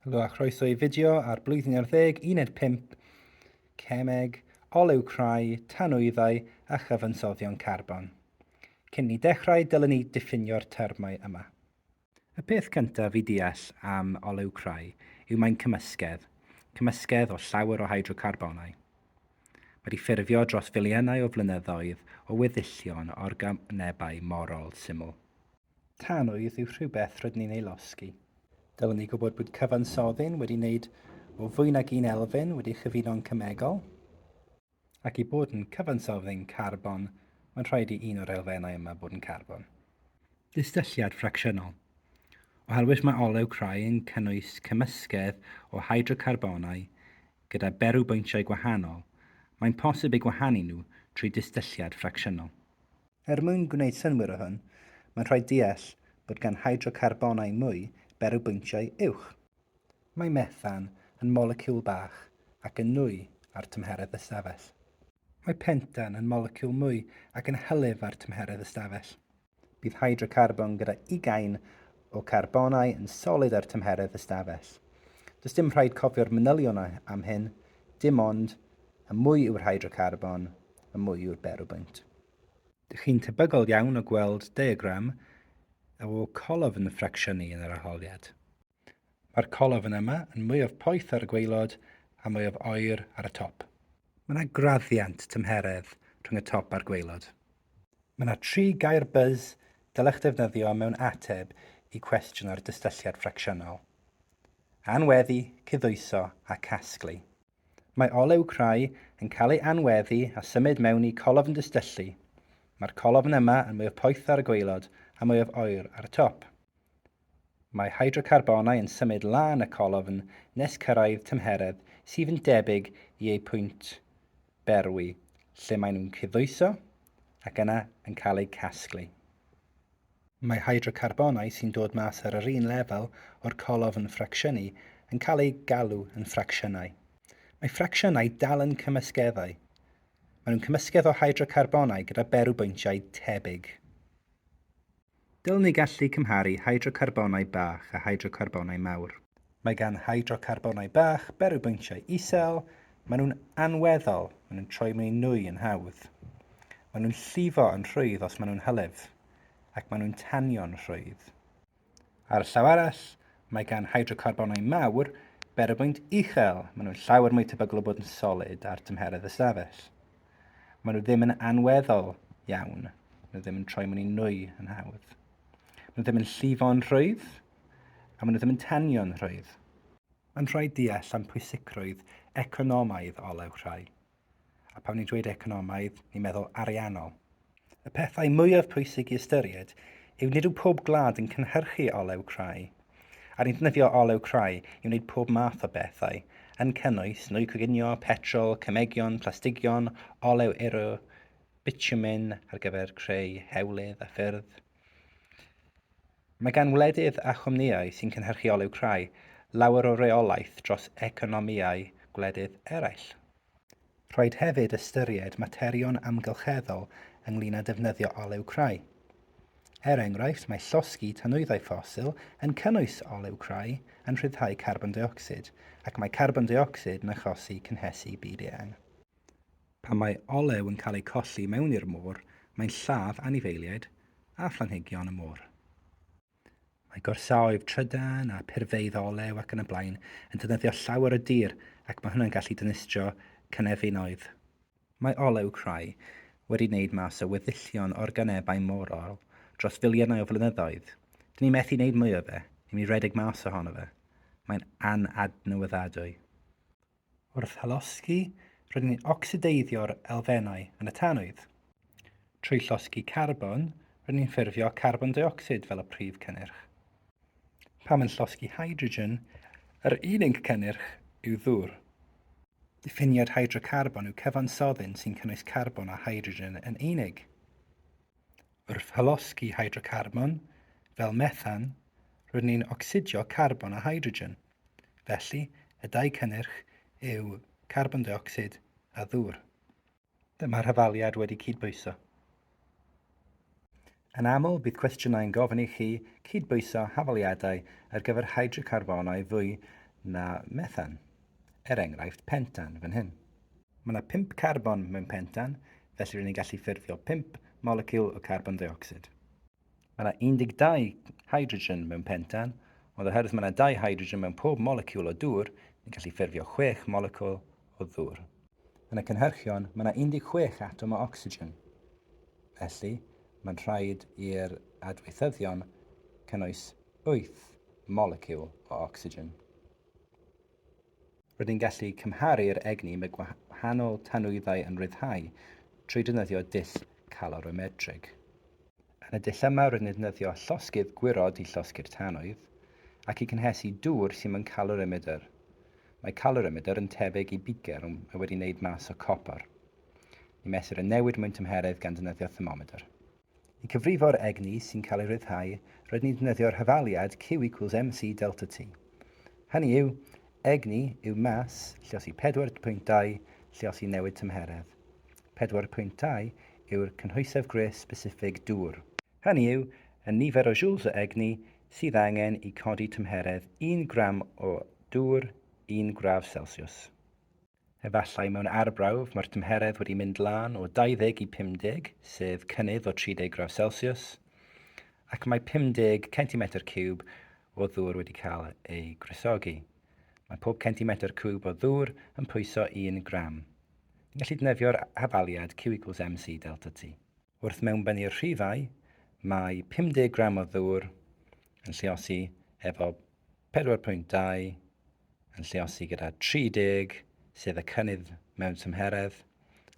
Helo a chroeso i fideo ar blwyddyn ar ddeg, uned 5, cemeg, olew crai, tanwyddau a chyfansoddion carbon. Cyn ni dechrau, dylwn ni diffinio'r termau yma. Y peth cyntaf i ddeall am olew crai yw mae'n cymysgedd, cymysgedd o llawer o hydrocarbonau. Wedi ffurfio dros filiynau o flynyddoedd o weddillion organebau morol syml. Tanwydd yw rhywbeth rydyn ni'n ei losgi. Dylwn ni gwybod bod cyfansoddyn wedi wneud o fwy nag un elfen wedi chyfuno'n cemegol, ac i bod yn cyfansoddyn carbon, mae'n rhaid i un o'r elfennau yma fod yn carbon. Distylliad ffracsiynol. Oherwydd mae olew crai yn cynnwys cymysgedd o hydrocarbonau gyda berwybwyntiau gwahanol, mae'n posib eu gwahanu nhw trwy distylliad ffracsiynol. Er mwyn gwneud synnwyr o hwn, mae'n rhaid deall bod gan hydrocarbonau mwy berw bwyntiau uwch. Mae methan yn moleciwl bach ac yn nwy ar tymheredd ystafell. Mae pentan yn moleciwl mwy ac yn hylif ar tymheredd ystafell. Bydd hydrocarbon gyda ugain o carbonau yn solid ar tymheredd ystafell. Does dim rhaid cofio'r manylion am hyn, dim ond, y mwy yw'r hydrocarbon, y mwy yw'r berwbwynt. Dych chi'n tebygol iawn o gweld diagram o colofn ffracsiynnu yn yr arholiad. Mae'r colofn yma yn mwyaf poeth ar y gwaelod a mwyaf oer ar y top. Mae yna graddiant tymheredd rhwng y top a'r gwaelod. Mae yna tri gair buzz dylech ddefnyddio mewn ateb i cwestiwn ar dystylliad ffracsiynol. Anweddu, cydhwyso a casglu. Mae olew crai yn cael ei anweddu a symud mewn i colofn distyllu. Mae'r colofn yma yn mwyaf poeth ar y gwaelod a mwyaf oer ar y top. Mae hydrocarbonau yn symud lan y colofn nes cyrraedd tymheredd sydd yn debyg i eu pwynt berwi, lle maen nhw'n cydddwyso ac yna yn cael eu casglu. Mae hydrocarbonau sy'n dod mas ar yr un lefel o'r colofn ffracsiynnu yn cael eu galw yn ffracsiynau. Mae ffracsiynau dal yn cymysgeddau. Maen nhw'n cymysgedd o hydrocarbonau gyda berwbwyntiau tebyg. Dylwn ni gallu cymharu hydrocarbonau bach a hydrocarbonau mawr. Mae gan hydrocarbonau bach berwybwyntiau isel, maen nhw'n anweddol, maen nhw'n troi mewn nwy yn hawdd. Maen nhw'n llifo yn rhwydd os maen nhw'n hylif, ac maen nhw'n tanio'n rhwydd. Ar y llaw arall, mae gan hydrocarbonau mawr berwybwynt uchel, maen nhw'n llawer mwy tebygol o bod yn solid ar dymheredd ystafell. Maen nhw ddim yn anweddol iawn, maen nhw ddim yn troi mewn i nwy yn hawdd. Maen nhw ddim yn llifo'n rhwydd, a maen nhw ddim yn tanio'n rhwydd. Mae'n rhaid deall am pwysicrwydd economaidd olew rhai. A pan ni'n dweud economaidd, ni'n meddwl ariannol. Y pethau mwyaf pwysig i ystyried yw nid yw pob gwlad yn cynhyrchu olew crai, a ni'n defnyddio olew crai i wneud pob math o bethau, yn cynnwys nwy coginio, petrol, cemegion, plastigion, olew ero, bitumen ar gyfer creu hewlydd a ffyrdd. Mae gan wledydd a chwmnïau sy'n cynhyrchu olew crai lawer o reolaeth dros economïau gwledydd eraill. Rhaid hefyd ystyried materion amgylcheddol ynglŷn â defnyddio olew crai. Er enghraifft, mae llosgi tanwyddau ffosil yn cynnwys olew crai yn rhyddhau carbon deuocsid, ac mae carbon deuocsid yn achosi cynhesu byd eang. Pan mae olew yn cael ei colli mewn i'r môr, mae'n lladd anifeiliaid a phlanhigion y môr. Mae gorsaoedd trydan a phurfeydd olew ac yn y blaen yn defnyddio llawer o dir ac mae hwnna'n gallu dinistrio cynefinoedd. Mae olew crai wedi wneud mas o weddillion organebau morol dros filiynau o flynyddoedd. Dyn ni methu wneud mwy o fe, ni'n mynd i redeg mas ohono fe. Mae'n anadnewyddadwy. Wrth hylosgi, rydyn ni'n ocsideiddio'r elfennau yn y tanwydd. Trwy llosgi carbon, rydyn ni'n ffurfio carbon deuocsid fel y prif cynnyrch. Pam yn llosgi hydrogen, yr unig cynnyrch yw ddŵr. Diffiniad hydrocarbon yw cyfansoddyn sy'n cynnwys carbon a hydrogen yn unig. Wrth hylosgi hydrocarbon, fel methan, rydyn ni'n ocsidio carbon a hydrogen. Felly, y dau cynnyrch yw carbon deuocsid a ddŵr. Dyma rhyfaliad wedi cydbwyso. Yn aml, bydd cwestiynau'n gofyn i chi cydbwyso hafaliadau ar gyfer hydrocarbonau fwy na methan, er enghraifft pentan fan hyn. Mae yna pump carbon mewn pentan, felly rydyn ni'n gallu ffurfio pump moleciwl o carbon deuocsid. Mae yna 12 hydrogen mewn pentan, ond oherwydd mae yna dau hydrogen mewn pob moleciwl o dŵr, ni'n gallu ffurfio 6 moleciwl o ddŵr. Yn y cynhyrchion, mae yna 16 atom o ocsigen. Felly, mae'n rhaid i'r adweithyddion cynnwys 8 moleciwl o ocsigen. Rydyn gallu cymharu'r egni mae gwahanol tanwyddau yn ryddhau trwy defnyddio dull calorimetrig. Yn y dull yma rydyn yn defnyddio llosgydd gwyrod i llosgi'r tanwydd ac i gynhesu dŵr sy'n mewn calorimetr. Mae calorimetr yn tebyg i bicer ond mae wedi wneud mas o copr. Ni mesur y newid mewn tymheredd gan ddefnyddio thermometr. I gyfrifo'r egni sy'n cael ei ryddhau, rydyn ni'n defnyddio'r hafaliad Q equals mc delta T. Hynny yw, egni yw mass lliosi 4.2 lliosi newid tymheredd. 4.2 yw'r cynhwysedd gwres sbesiffig dŵr. Hynny yw, y nifer o joules o egni sydd angen i codi tymheredd un gram o dŵr un gradd Celsiws. Efallai mewn arbrawf mae'r tymheredd wedi mynd lan o 20 i 50, sef cynnydd o 30 gradd Celsius, ac mae 50 centimetr ciwb o ddŵr wedi cael ei gwresogi. Mae pob centimetr cwb o ddŵr yn pwyso un gram. Ni'n gallu defnyddio'r hafaliad Q equals mc delta T. Wrth mewnbennu'r rhifau, mae 50 gram o ddŵr yn lliosi efo 4.2 yn lliosi gyda 30 sef y cynnydd mewn tymheredd,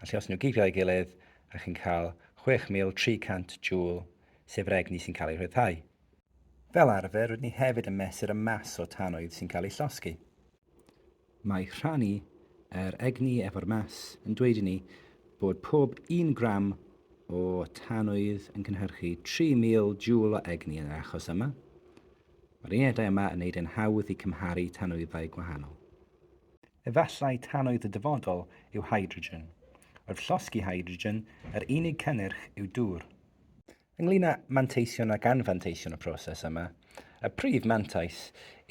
a lliosi nhw gyd gyda'i gilydd a chi'n cael 6300 joule sef yr egni sy'n cael ei rhyddhau. Fel arfer rydyn ni hefyd yn mesur y mas o tanwydd sy'n cael ei llosgi. Mae rhannu yr egni efo'r maes yn dweud i ni bod pob un gram o tanwydd yn cynhyrchu 3,000 joule o egni yn yr achos yma. Mae'r unedau yma yn neud e'n hawdd i cymharu tanwyddau gwahanol. Efallai tanwydd y dyfodol yw hydrogen. Wrth llosgi hydrogen, yr unig cynnyrch yw dŵr. Ynglŷn â manteision ac anfanteision y proses yma, y prif mantais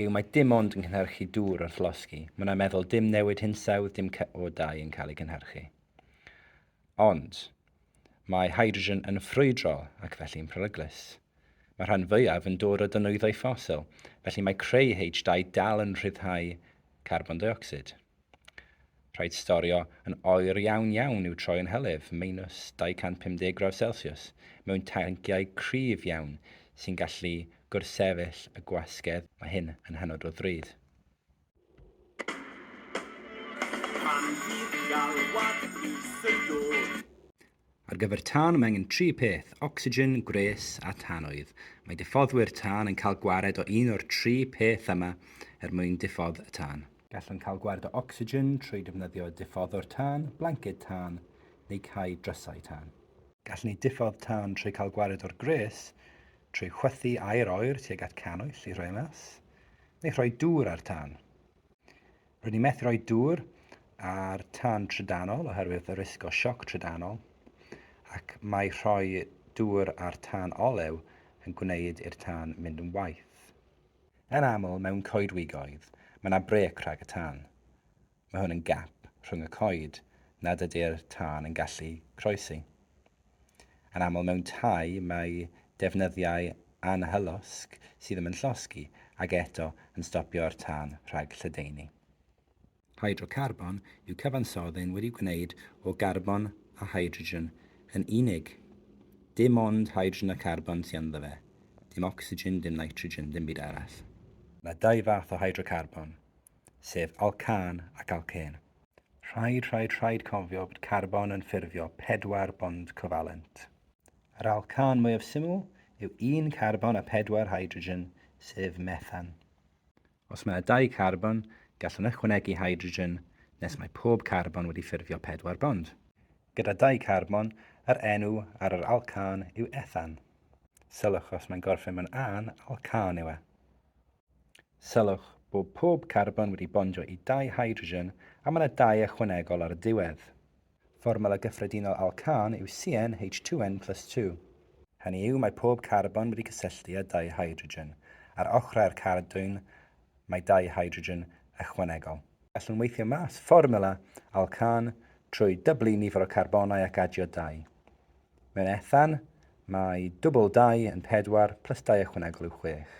yw mae dim ond yn cynhyrchu dŵr wrth losgi, mae yna meddwl dim newid hinsawdd, dim CO2 yn cael ei gynhyrchu. Ond, mae hydrogen yn ffrwydrol ac felly'n peryglus. Mae'r rhan fwyaf yn dod o dynwyddau ffosil, felly mae creu H2 dal yn rhyddhau carbon deuocsid. Rhaid storio yn oer iawn iawn i'w troi yn hylif, meinws 250 gradd celsiws, mewn tanciau cryf iawn sy'n gallu gwrthsefyll y gwasgedd, mae hyn yn hynod o ddrud. Pan fydd galwad brys yn dod. Ar gyfer tân mae angen tri peth, ocsigen, gwres a tanwydd. Mae diffoddwyr tân yn cael gwared o un o'r tri peth yma er mwyn diffodd y tân. Gallwn cael gwared o ocsigen trwy defnyddio diffoddwr tân, blanced tân neu cau drysau tân. Gallwn ni diffodd tân trwy cael gwared o'r gwres trwy chwythu aer oer tuag at cannwyll i roi e mas, neu rhoi dŵr ar tân. Rydyn ni methu rhoi dŵr ar tân trydanol oherwydd y risg o sioc trydanol, ac mae rhoi dŵr ar tân olew yn gwneud i'r tân mynd yn waeth. Yn aml mewn coedwigoedd, mae yna brêc rhag y tân. Mae hwn yn gap rhwng y coed nad ydy'r tân yn gallu croesi. Yn aml mewn tai mae defnyddiau anhylosg sydd ddim yn llosgi ac eto yn stopio'r tân rhag lledaenu. Hydrocarbon yw cyfansodd ein wedi gwneud o garbon a hydrogen yn unig. Dim ond hydrogen a charbon sy ynddo fe. Dim ocsigen, dim nitrogen, dim byd arall. Mae dau fath o hydrocarbon, sef alcân ac alcên. Rhaid, rhaid, rhaid cofio bod carbon yn ffurfio pedwar bond covalent. Yr alcan mwyaf syml yw un carbon a pedwar hydrogen, sef methan. Os mae yna dau carbon, gallwn ychwanegu hydrogen nes mae pob carbon wedi ffurfio pedwar bond. Gyda dau carbon, yr enw ar yr alcan yw ethan. Sylwch os mae'n gorffen mewn an, alcan yw e. Sylwch bod pob carbon wedi bondio i dau hydrogen a mae yna dau ychwanegol ar y diwedd. Fformwla gyffredinol alcan yw CnH2n plus 2. Hynny yw, mae pob carbon wedi cysylltu â dau hydrogen. Ar ochrau'r cardyn mae dau hydrogen ychwanegol. Gallwn weithio mas fformwla alcan trwy dyblu nifer o carbonau ac adio dau. Mewn ethan, mae dwbl dau yn pedwar plus dau ychwanegol yw chwech.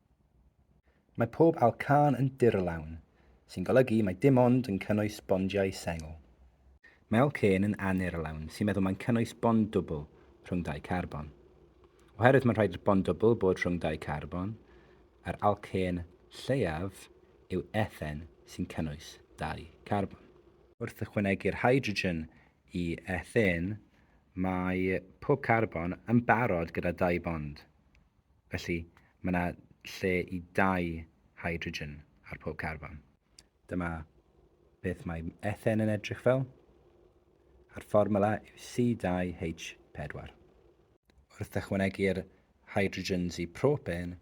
Mae pob ail cân yn dirlawn, sy'n golygu mai dim ond yn cynnwys bondiau sengl. Mae ail cân yn anirlawn, sy'n meddwl mae'n cynnwys bond dwbl rhwng dau carbon. Oherwydd mae'n rhaid i'r bond dwbl bod rhwng dau carbon, yr alcên lleiaf yw ethen sy'n cynnwys dau carbon. Wrth ychwanegu'r hydrogen i ethen, mae pob carbon yn barod gyda dau bond. Felly, mae yna lle i dau hydrogen ar pob carbon. Dyma beth mae ethen yn edrych fel, a'r fformula yw C2H4. Wrth ychwanegu'r hydrogens i propen,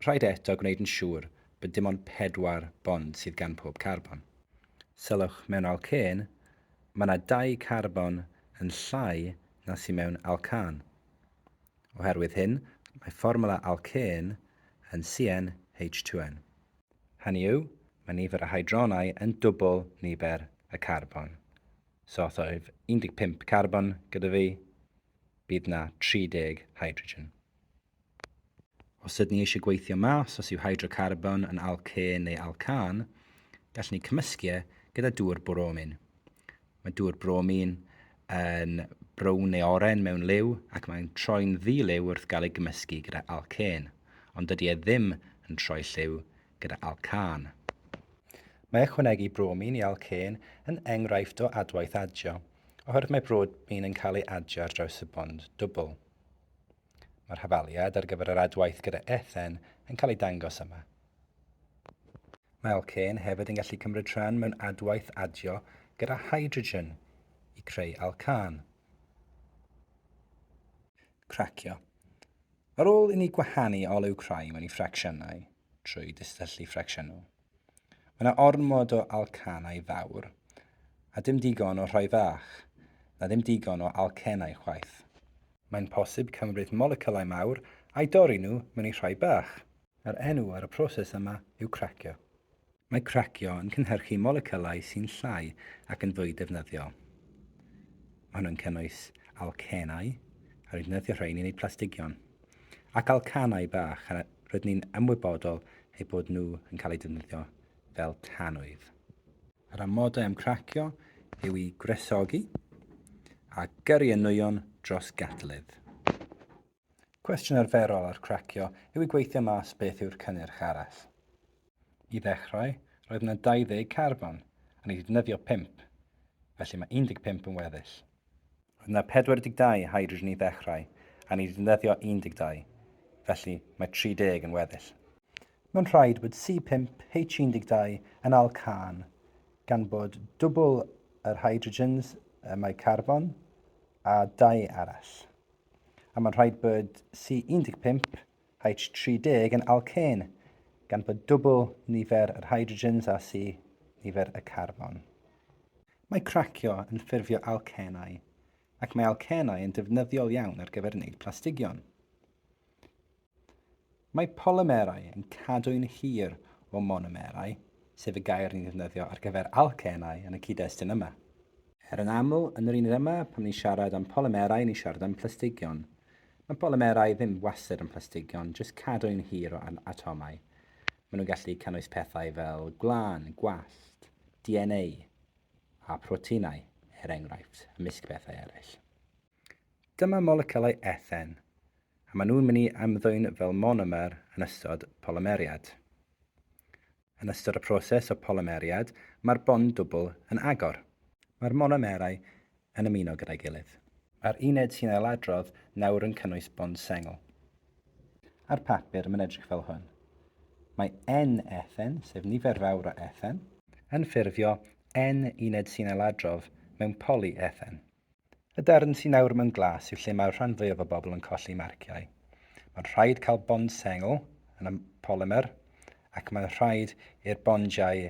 rhaid eto gwneud yn siŵr bod dim ond pedwar bond sydd gan pob carbon. Sylwch, mewn alcên, mae yna dau carbon yn llai na sydd mewn alcan. Oherwydd hyn, mae fformwla alcên yn CnH2n. Hynny yw, mae nifer y hydronau yn dwbl nifer y carbon. So os oedd 15 carbon gyda fi, bydd 'na 30 hydrogen. Os ydyn ni eisiau gweithio mas os yw hydrocarbon yn alcên neu alcân, gallwn ni cymysgu e gyda dŵr boromin. Mae dŵr bromin yn brown neu oren mewn liw ac mae'n troi'n ddi-liw wrth gael ei gymysgu gyda alcên, ond dydy e ddim yn troi lliw gyda alcân. Mae ychwanegu bromin i alcên yn enghraifft o adwaith adio, oherwydd mae bromin yn cael ei adio ar draws y bond dwbl. Mae'r hafaliad ar gyfer yr adwaith gyda Ethen yn cael ei dangos yma. Mae alcên hefyd yn gallu cymryd rhan mewn adwaith adio gyda hydrogen i creu alcan. Cracio. Ar ôl i ni gwahanu olew crai mewn i ffracsiynau trwy distyllu ffracsiynol, Mae yna ormod o alcanau fawr, a dim digon o rhai fach, na ddim digon o alcenau chwaith. Mae'n posib cymryd moleciwlau mawr a'u dorri nhw mewn i rhai bach. Yr enw ar y proses yma yw cracio. Mae cracio yn cynhyrchu moleciwlau sy'n llai ac yn fwy defnyddiol. Mae hwn yn cynnwys alcenau, a rwy'n defnyddio rhain i wneud plastigion. ac alcanau bach a rydyn ni'n ymwybodol eu bod nhw yn cael eu defnyddio fel tanwydd. Yr amodau am cracio yw i gwresogi a gyrru y nwyon dros gadledd. Cwestiwn arferol ar cracio yw i gweithio mas beth yw'r cynnyrch arall. I ddechrau, roedd yna 20 carbon, a ni wedi defnyddio 5, felly mae 15 yn weddill. Roedd yna 42 hydrogen i ddechrau a ni 'di defnyddio 12, felly mae 30 yn weddill. Mae'n rhaid bod C5H12 yn alcân gan bod dwbl yr hydrogens y mae carbon a dau arall. A mae'n rhaid bod C15H30 yn alcên gan bod dwbl nifer yr hydrogens a C nifer y carbon. Mae cracio yn ffurfio alcenau, ac mae alcenau yn defnyddiol iawn ar gyfer wneud plastigion. Mae polymerau yn cadw'n hir o monomerau, sef y gair ni'n ddefnyddio ar gyfer alcenau yn y cyd-destun yma. Er yn aml, yn yr uned yma, pan ni'n siarad am polymerau, ni'n siarad am plastigion. Mae polymerau ddim wastad yn plastigion, jyst cadw'n hir o atomau. Maen nhw'n gallu cynnwys pethau fel gwlân, gwallt, DNA a proteinau, er enghraifft, ymysg pethau eraill. Dyma moleciwlau ethen, a maen nhw'n mynd i ymddwyn fel monomer yn ystod polymeriad. Yn ystod y proses o polymeriad, mae'r bond dwbl yn agor. Mae'r monomerau yn ymuno gyda'i gilydd. Mae'r uned sy'n ailadrodd nawr yn cynnwys bond sengl. Ar papur, mae'n edrych fel hwn. Mae N-ethen, sef nifer fawr o ethen, yn ffurfio N uned sy'n ailadrodd mewn poly-ethen. Y darn sy'n awr mewn glas yw lle mae'r rhan fwyaf o bobl yn colli marciau. Mae'n rhaid cael bond sengl yn y polymer ac mae'n rhaid i'r bondiau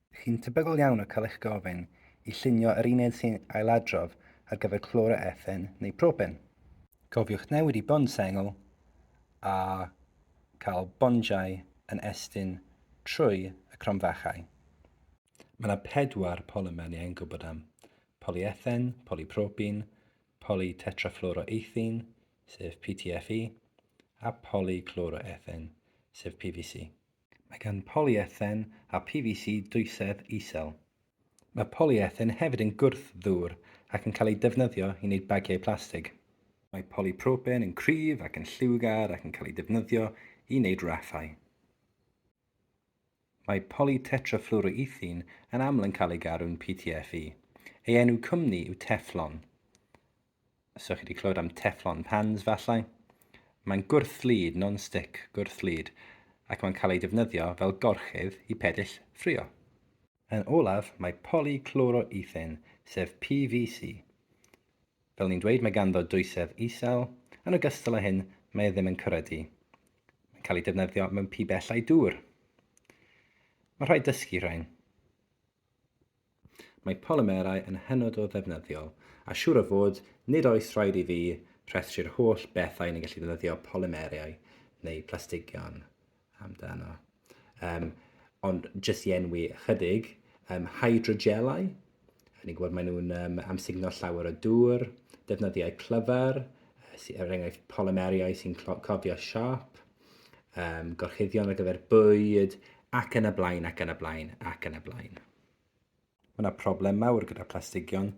Chi'n tebygol iawn o cael eich gofyn i llunio yr uned sy'n ailadrodd ar gyfer cloroethen neu propen. Cofiwch newid i bond sengl a cael bondiau yn estyn trwy y cromfachau. Mae yna pedwar polymer ni angen gwybod am, polyethen, polypropen, polytetrafluoroethen, sef PTFE, a polycloroethen, sef PVC. Mae gan polyethen a PVC dwysedd isel. Mae polyethen hefyd yn gwrth-ddŵr ac yn cael ei defnyddio i wneud bagiau plastig. Mae polypropen yn cryf ac yn lliwgar ac yn cael ei defnyddio i wneud raffau. Mae polytetrafluoroethene yn aml yn cael ei garu'n PTFE. Ei enw cwmni yw Teflon. Os ydych chi wedi clywed am Teflon pans, falle? Mae'n gwrth-lid, non-stick gwrth-lid, ac mae'n cael ei defnyddio fel gorchudd i pedill ffrio. Yn olaf, mae polychloroethen, sef PVC. Fel ni'n dweud, mae ganddo dwysedd isel, yn ogystal â hyn, mae e ddim yn cwredu. Mae'n cael ei defnyddio mewn pibellau dŵr. Mae rhaid dysgu rhain. Mae polymerau yn hynod o ddefnyddiol, a siŵr o fod, nid oes rhaid i fi rhestru'r holl bethau ni'n gallu defnyddio polymerau neu plastigion amdano. Um, ond jyst i enwi ychydig, um, hydrogelau, ni'n gwybod maen nhw'n um, amsugno llawer o dŵr, defnyddiau clyfar, er enghraifft polymeriau sy'n cofio siap, um, gorchuddion ar gyfer bwyd, ac yn y blaen, ac yn y blaen, ac yn y blaen. Mae yna problem mawr gyda plastigion,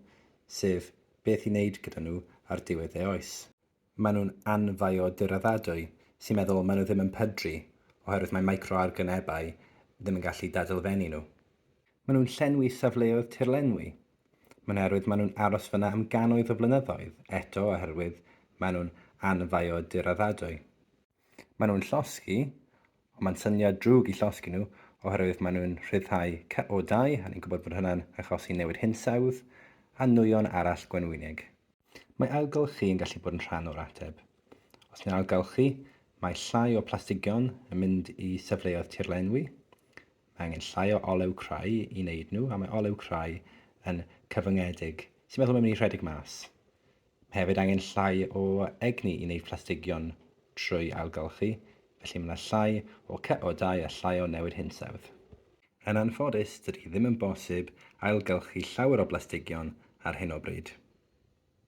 sef beth i wneud gyda nhw ar diwedd ei oes. Maen nhw'n anfiodyraddadwy, sy'n meddwl maen nhw ddim yn pydru, oherwydd mae microargonebau ddim yn gallu dadelfennu nhw. Maen nhw'n llenwi safleoedd tirlenwi, Mae'n oherwydd maen nhw'n aros fan'na am gannoedd o flynyddoedd, eto oherwydd maen nhw'n anfaodyraddadwy. Maen nhw'n llosgi, ond mae'n syniad drwg i llosgi nhw oherwydd maen nhw'n rhyddhau CO2, a ni'n gwybod bod hynna'n achosi newid hinsawdd a nwyon arall gwenwynig. Mae ailgylchu yn gallu bod yn rhan o'r ateb. Os ni'n ailgylchu, mae llai o plastigion yn mynd i safleoedd tirlenwi, Mae angen llai o olew crai i wneud nhw, a mae olew crai yn cyfyngedig. Ti'n meddwl mae'n mynd i rhedeg mas? Mae hefyd angen llai o egni i wneud plastigion trwy ailgylchu, felly mae yna llai o CO dau a llai o newid hinsawdd. Yn anffodus, dydy ddim yn bosib ailgylchu llawer o blastigion ar hyn o bryd.